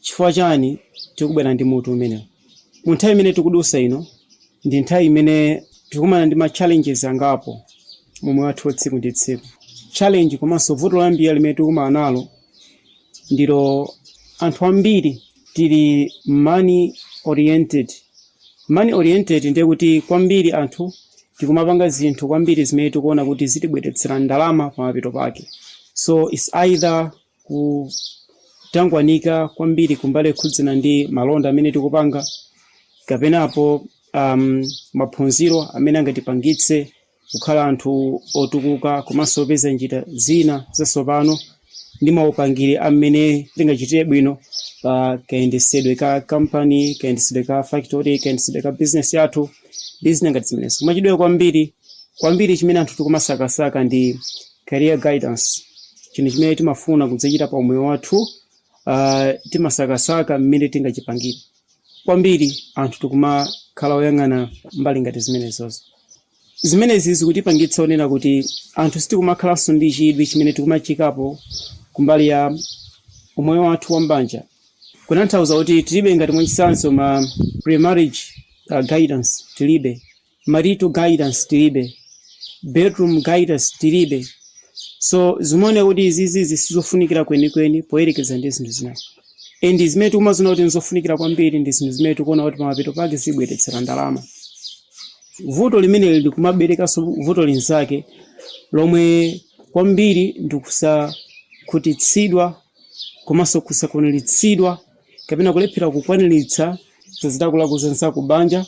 Chifukwa chani tikubwera ndi mutu umenewu? Mu nthawi imene tikudusa ino, ndi nthawi imene tikukumana ndi ma challenges angapo mu moyo wathu wa tsiku ndi tsiku. Challenge komanso vuto loyambirira limene tikukumana nalo ndilo anthu ambiri tili money oriented. Money oriented ndiye kuti kwambiri anthu tikumapanga zinthu kwambiri zimene tikuona kuti zitibweretsera ndalama pamapeto pake. So it's either. kutangwanika kwambiri kumbali yokhudzana ndi malonda amene tikupanga kapenapo maphunziro amene angatipangitse kukhala anthu otukuka komanso opeza njira zina zatsopano ndi maupangiri amene tingachitire bwino pa kayendesedwe ka kampani kayendesedwe ka factory kayendesedwe ka bizinesi yathu ndi zina ngati zimenezo mwachidule kwambiri Kwambiri chimene anthu tikumasakasaka ndi career guidance, chinthu chimene timafuna kudzachita pa umoyo wathu. Uh, timasakasaka mmene tingachipangire kwambiri anthu tikumakhala oyang'ana mbali ngati zimenezozo zimenezi zikutipangitsa onena kuti anthu sitikumakhalanso ndi chidwi chimene tikumachiikapo kumbali ya umoyo wathu wa mbanja kunanthauza kuti tilibe ngati mwachitsanzo ma pre-marriage uh, guidance tilibe marital guidance tilibe, bedroom guidance tilibe, so zimaoneka kuti izizi sizofunikira kwenikweni poyerekeza ndi zinthu zina and zimene tikumaziona kuti nzofunikira kwambiri ndi zinthu zimene tikuona kuti pamapeto pake zitibweretsera ndalama vuto limeneli likumaberekanso vuto linzake lomwe kwambiri ndikusakhutitsidwa komanso kusakwaniritsidwa kapena kulephera kukwaniritsa zilakolako za nzako m'banja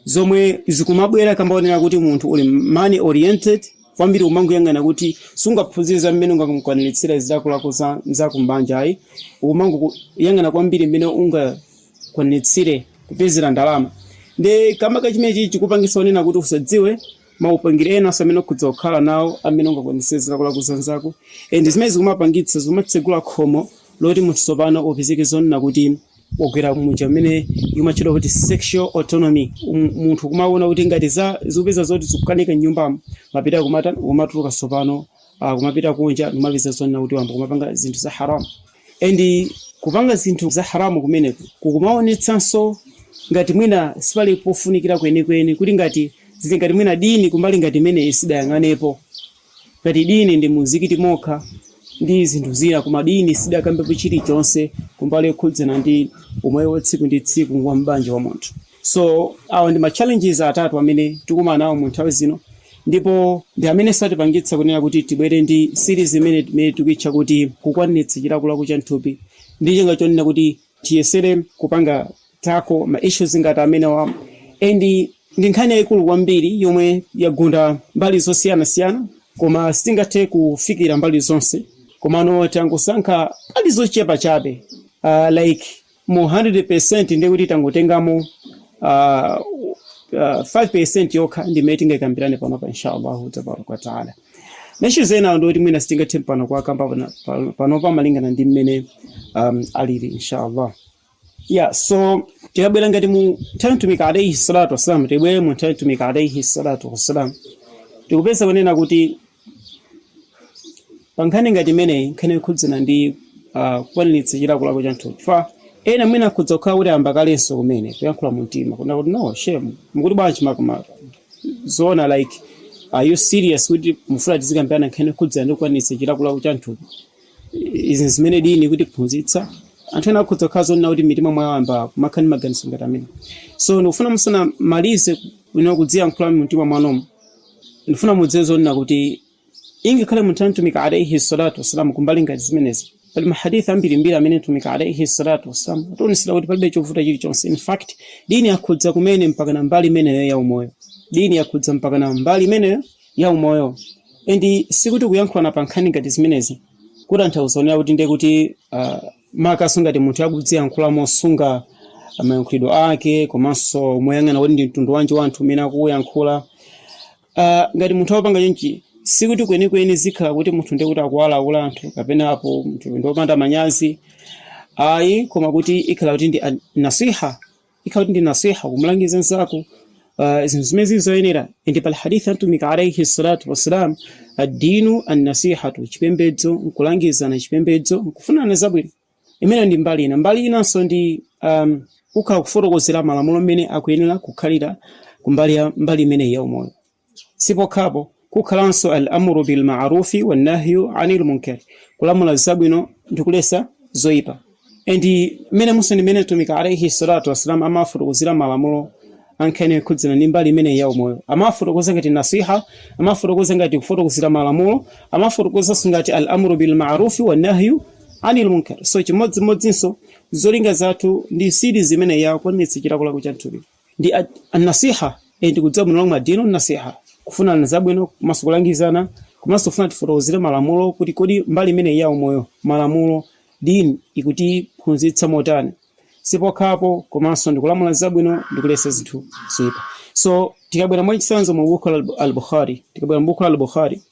zomwe zikumabwera kamba onena kuti munthu uli money oriented kwambiri umangoyang'ana kuti sungaphunzire za mmene ungakwaniritsire zilakolako za nzako m'banja ayi umangoyang'ana kwambiri mmene ungakwaniritsire kupezera ndalama nde kamba ka chimenechichi chikupangisa onena kuti usadziwe maupangiri ena amene ukhoza kukhala nawo amene ungakwaniritsire zilakolako za nzako and zimene zikumapangitsa zikumatsegula khomo loti munthu tsopano upezeke zonena kuti wagwera muja umene imatchedwa kuti sexual autonomy Um- munthu kumaona kuti ngati za zikupeza zoti zikukanika nyumbamo mapeto kumata- kumatuluka tsopano ah, kumapita kunja kumapeza zonena kuti wayamba kumapanga zinthu za haramu and kupanga zinthu za haramu kumeneku kukumaonetsanso ngati mwina sipali pofunikira kwenikweni kuti ngati zili ngati mwina dini kumbali ngati imeneyi sidayang'anepo Ngati dini ndi mumzikiti mokha ndi zinthu zina koma dini sidakambepo chilichonse kumbali yokhudzana ndi umoyo wa tsiku ndi tsiku wa m'banja wa munthu. So awa ndi ma challenges atatu amene tikumana nawo mu nthawi zino ndipo ndi amenenso atipangitsa kunena kuti tibwere ndi series imeneyi imene tikuitcha kuti kukwaniritsa chilakolako cha mthupi ndi cholinga chonena kuti tiyesere kupanga tackle ma issues ngati amenewa ndi ndi nkhani yayikulu kwambiri yomwe yagunda mbali zosiyanasiyana koma sitingathe kufikira mbali zonse komano tangosankha mbali zochepa chabe uh, like mu 100% ndiye kuti tangotengamo uh, uh, 5% yokha ndimene tingayikambirane panopa inshallahu tabaraka wataala Ma issues ena ndi oti mwina sitingathe pano kuwakamba pana- pa- panopa malingana ndi mmene um, alili inshallah yeah so tikabwera ngati mu nthawi ya mtumiki alaihi salatu wassalam tibwere mu nthawi ya mtumiki alaihi salatu wassalam tikupeza kunena kuti pa nkhani ngati imeneyi nkhani yokhudzana ndi ah, kukwaniritsa chilakolako cha mthupi fa ena mwina akhoza kukhala kuti ayamba kalenso kumene kuyankhula mu mtima kunena kuti no shehe mukuti bwanji makamaka zoona like are you serious kuti mufuna tizikambirana nkhani yokhudzana ndi kukwanitsa chilakolako cha mthupi izi zimene dini ikutiphunzitsa anthu ena akhoza kukhala zonena kuti mmitima mwawo ayamba kumakhala ndi maganizo ngati amene so ndikufuna musanamalize kuno kudziyankhula mu mtima mwanumo ndifuna mudziwe zonena kuti Ingakhale munthawi ya Mtumiki alaih salatu wassalam ku mbali ngati zimenezi, pali ma Hadith ambirimbiri amene Mtumiki alaih salatu wassalam wationetsera kuti palibe chovuta chilichonse. In fact, Deen yakhudza kumene mpakana mbali imeneyo ya umoyo. Deen yakhudza mpakana mbali imeneyo ya umoyo. And sikuti kuyankhulana pa nkhani ngati zimenezi kutanthauza kunena kuti ndiye kuti ah, makamaka ngati munthu akuziyankhula mosunga mayankhulidwe ake komanso moyang'ana kuti ndi mtundu wanji wa anthu umene akuuyankhula. Ah, ngati munthu akupanga chonchi sikuti kwenikweni zikhala kuti munthu ndiye kuti akuwalawula anthu kapena apo munthu ndi wopanda manyazi ayi koma kuti ikhala kuti ndi an- nasiha ikhala kuti ndi nasiha kumulangiza mzako ah, zinthu zimene zili zoyenera ndi pali hadithi a mtumiki alaihi salatu wassalam addinu annasihatu chipembedzo nkulangizana chipembedzo nkufunana zabwino Imeneyo ndi mbali ina. Mbali inanso ndi um, kukhala kufotokozera malamulo mmene akuyenera kukhalira kumbali ya mbali imeneyi ya umoyo. Sipokhaponso kukhalanso al amru bil ma'rufi wan nahyu anil munkar, kulamula zabwino ndi kuletsa zoipa. And mmenemunso ndi mmene Mtumiki alaihi salatu wassalam amafotokozera malamulo ankhani yokhudzana ndi mbali imeneyi ya umoyo. Amafotokoza ngati nasiha, amafotokoza ngati kufotokozera malamulo, amafotokozanso ngati al amru bil ma'rufi wan nahyu Anil Munkar. So chimodzimodzinso zolinga zathu ndi series imeneyi ya kukwanitsa chilakolako cha mthupi ndi at- an-nasiha eh, ndi kudziwa bwino lomwe addinu nasiha kufunana zabwino komanso kulangizana komanso kufuna tifotokozere malamulo kuti kodi mbali imene ya umoyo malamulo dini ikutiphunzitsa motani sipokhapo komanso ndikulamula zabwino ndikuletsa zinthu zoipa so tikabwera mwachitsanzo mu buku la al-bukhari tikabwera mu buku la al-bukhari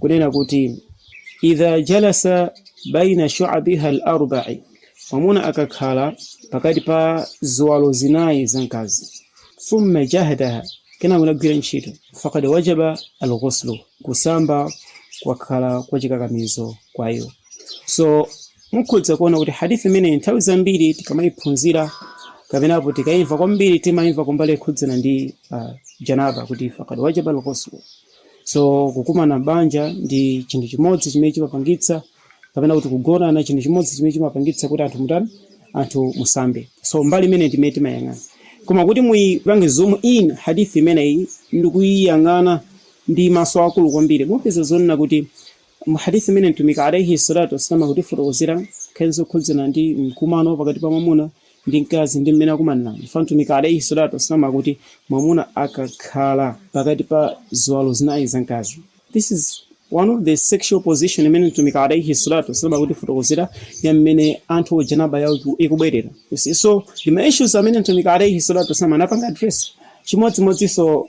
kunena kuti idha jalasa baina shu'abiha al-arba'i mwamuna akakhala pakati pa ziwalo zinayi za mkazi thumma jahadaha kenako nagwira ntchito faqad wajaba al-ghuslu kusamba kwakhala kwa chikakamizo kwa iwo so mukhoza kuona kuti hadithi imeneyi nthawi zambiri tikamayiphunzira kapena apo tikayimva kwambiri timayimva kumbali yokhudzana ndi uh, janaba kuti faqad wajaba al-ghuslu So kukumana m'banja ndi chinthu chimodzi chimene chimapangitsa kapena kuti kugonana chinthu chimodzi chimene chimapangitsa kuti anthu mutani anthu musambe. So mbali imene ndimene timayang'ana. Koma kuti muyipange zoom in hadith imeneyi ndikuyiyang'ana ndi maso akulu kwambiri mupeza zonena kuti Mu Hadith imene Mtumiki alaih salatu wassalam akutifotokozera nkhani zokhudzana ndi mkumano wa pakati pa mwamuna ndi mkazi ndi mmene akumanirana, chifukwa Mtumiki alaih salatu wassalam akuti, mwamuna akakhala pakati pa ziwalo zinayi za mkazi This is one of the sexual position imene Mtumiki alaih salatu wassalam akutifotokozera ya mmene anthu o janaba yawo ikubwerera. You see, so ndi ma issues amene Mtumiki alaih salatu wassalam anapanga address chimodzimodzinso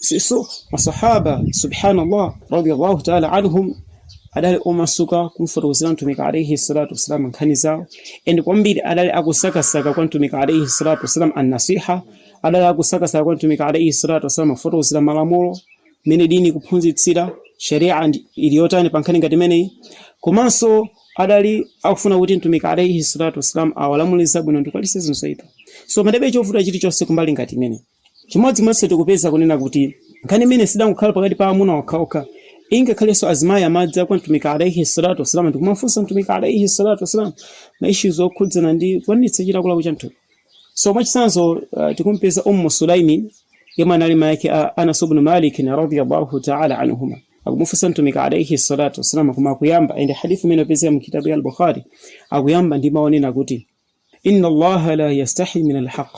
so masahaba subhanallah radiyallahu ta'ala anhum adali omasuka kumfotokozera mtumiki alaihi salatu wassalam nkhani zawo and kwambiri adali akusakasaka kwa mtumiki alaihi salatu wassalam annasiha adali akusakasaka kwa mtumiki alaihi salatu wassalam kufotokozeredwa malamulo mmene dini ikuphunzitsira sharia ili yotani pa nkhani ngati imeneyi komanso adali akufuna kuti mtumiki alaihi salatu wassalam awalamule zabwino ndikuwaletsa zoipa so padalibe chovuta chilichonse kumbali ngati imeneyi Chimodzimodzinso tikupeza kunena kuti nkhani imeneyi sidangokhala pakati pa amuna okhaokha, ingakhalenso azimayi amadza kwa Mtumiki alaihi swalaatu wasalaam ndikumafunsa Mtumiki alaihi swalaatu wasalaam ma issues okhudzana ndi kukwaniritsa chilakolako cha mthupi. So mwachitsanzo tikumupeza Ummu Sulaymin yemwe anali mai ake a Anas ubnu Maalikin radhia Allahu taala anhuma, akumufunsa Mtumiki alaihi swalaatu wasalaam koma akuyamba and hadith imene ikupezeka mu kitaab ya Al Bukhari akuyamba ndi mau onena kuti. inna allaha la yastahi min alhaq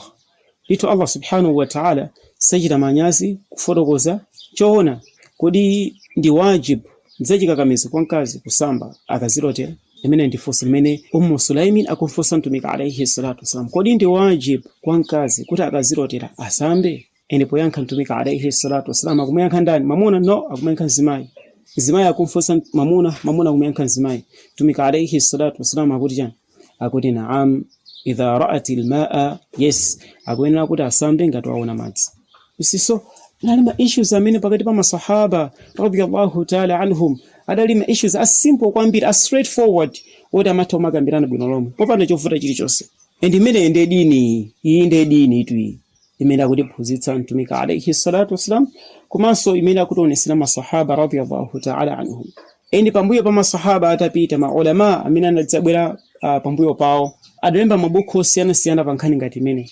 ndithu allah subhanahu wa ta'ala sachita manyazi kufotokoza choona kodi ndi wajib nzachikakamizo kwa mkazi kusamba akazilotera ilimene ndi funso limene ummu sulaimin akumfunsa mtumiki alaihi salatu wasalam kodi ndi wajib kwa mkazi kuti akazilotera asambe and poyankha mtumiki alaihi salatu wasalam akumuyankha ndani mamuna no akumuyankha mzimayi mzimayi akumfunsa mamuna mamuna akumuyankha mzimayi mtumiki alaihi salatu wasalam akuti chani akuti naam idha raat lmaa yes akuyenera kuti asambe ngati waona madzi you see so anali ma issues amene pakati pa masahaba radiyallahu taala anhum adali ma issues a simple kwambiri a straightforward oti amatha kumakambirana bwino lomwe popanda chovuta chilichonse and imeneyi ndiye dini iyi ndiye dinitu iyi imene akutiphunzitsa mtumiki alaihi salatu wassalam komanso imene akutionesera masahaba radiyallahu taala anhum and pambuyo pa masahaba atapita maulama amene anadzabwera uh, pambuyo pawo adalemba mabuku osiyanasiyana pa nkhani ngati imeneyi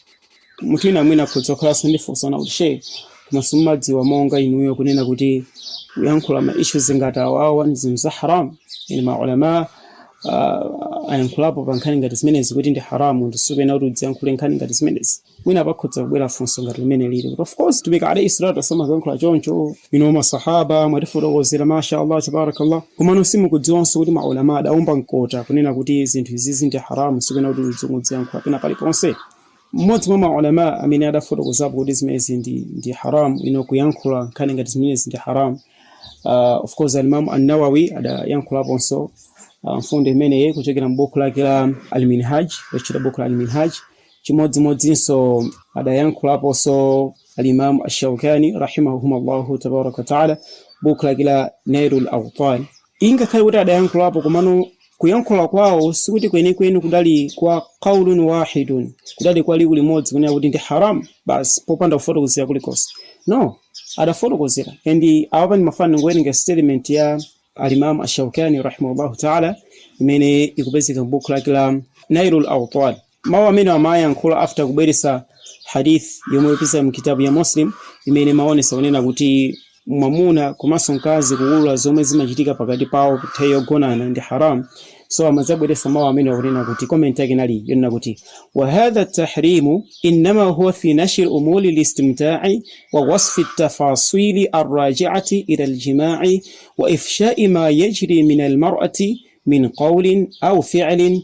munthu wina mwina akhoza kukhalanso ndi funso na kuti she komanso mumadziwa monga inuyo kunena kuti kuyankhula ma issues ngati awawa ndi zinthu za haram and maulama uh, ayankhulapo pa nkhani ngati zimenezi kuti ndi haramu and sukuyenera kuti udziyankhule nkhani ngati zimenezi mwina pakhoza kubwera funso ngati limenelili kuti of course mtumiki alayhi salatu wasalam ankayankhula choncho you know masahaba mwatifotokozera masha allah tabarakallah komano simukudziwanso kuti maulama adaomba mkota kunena kuti zinthu izizi ndi haramu sukuyenera kuti udziyankhula pena paliponse mmodzi mwa maulama amene adafotokozapo kuti zimenezi ndi, ndi haramu you know kuyankhula nkhani ngati zimenezi ndi haramu uh, of course alimamu annawawi adayankhulaponso uh, mfundo imeneyi kuchokera m'buku lake la alminhaj lochita buku la alminhaj Chimodzimodzinso adayankhulaponso Alimamu Ashaukani rahimahumullahu tabaraka wataala m'bukhu lake la Nailul Autar. Ingakhale kuti adayankhulapo komano kuyankhula kwawo sikuti kwenikweni kudali kwa qaulun wahidun, kudali kwa liwu limodzi kunena kuti ndi haram basi popanda kufotokozera kulikonse. No, adafotokozera and apapa ndimafuna ndingowerenga statement ya Alimamu Ashaukani rahimahullahu taala imene ikupezeka m'bukhu lake la Nailul Autar. Mau amenewa amayankhula after kubweretsa Hadith yomwe ikupezeka mu kitabu ya Muslim imene imaonetsa kunena kuti mwamuna komanso mkazi kuwulula zomwe zimachitika pakati pawo nthawi yogonana ndi haram. So amadzabweretsa mau amenewa kunena kuti comment yake inali yonena kuti wa hadha tahrimu innama huwa fi nashri umuri listimta'i wa wasfi tafasili arraji'ati ila aljima'i wa ifsha'i ma yajri min almar'ati min qawlin aw fi'lin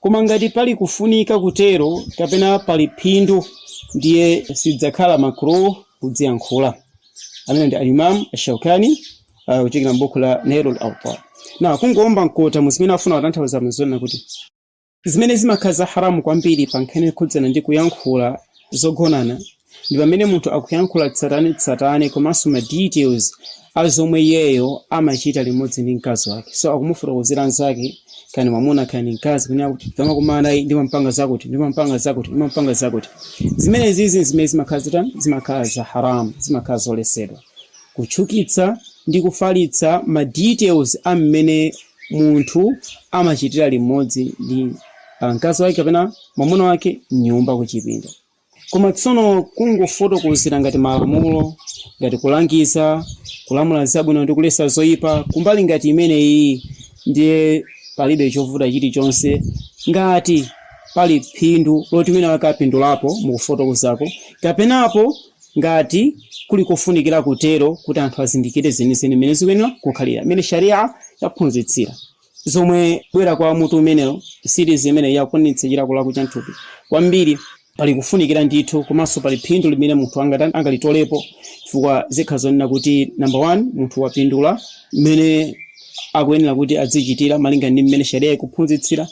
Koma ngati pali kufunika kutero kapena pali phindu ndiye sidzakhala makruh kudziyankhula. Ameneyu ndi al-Imam al-Shawkani uh, kuchokera m'buku la Nailul Awtar. Nde kungoomba mkota mu zimene afuna kutanthauza n'zonena kuti zimene zimakhala za haramu kwambiri pa nkhani yokhudzana ndi kuyankhula zogonana ndi pamene munthu akuyankhula tsatanetsatane komanso ma details a zomwe iyeyo amachita limodzi ndi mkazi wake so akumufotokozera mnzake kani mwamuna kani mkazi kunena kuti tikamakumana iyi ndimampanga zakuti ndimampanga zakuti ndimampanga zakuti zimene zizi zimene zimakhala zitani zimakhala za haram zimakhala zoletsedwa kuchukitsa ndi kufalitsa ma details a mmene munthu amachitira limodzi ndi ah, mkazi wake kapena mwamuna wake m'nyumba kuchipinda Koma tsono kungofotokozera ngati malamulo, ngati kulangiza, kulamula zabwino ndi kulesa zoipa, kumbali ngati imeneyiyi ndiye palibe chovuta chilichonse ngati pali phindu loti winawake apindulapo mukufotokozako, kapenapo ngati kuli kofunikira kutero kuti anthu azindikire zenizeni mmene zikuyenera kukhalira, mmene Sharii'ah yaphunzitsira. zobwera kwa mutu umenewo series imeneyi yakukwaniritsa chilakolako cha mthupi kwambiri pali kufunikira ndithu komanso pali phindu limene munthu angalitolepo chifukwa zikhala zonena kuti number one munthu wapindula mmene akuyenera kuti adzichitira malinga ndi mmene sharia ikuphunzitsira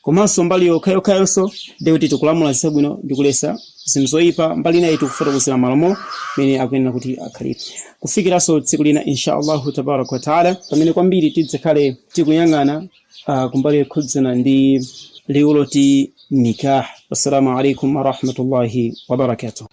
Komanso mbali yokhayokhayonso ndiye kuti tikulamula zabwino ndi kulesa zinthu zoyipa, mbali inayi tikufotokozera malamulo mmene akuyenera kuti akhalire. Kufikiranso tsiku lina Insha Allahu Tabaaraka wa Ta'ala pamene kwambiri tidzakhale tikuyang'ana kumbali yokhudzana ndi liwu loti Nikaah. Wassalamu alaykum wa rahmatullahi wa barakatuh.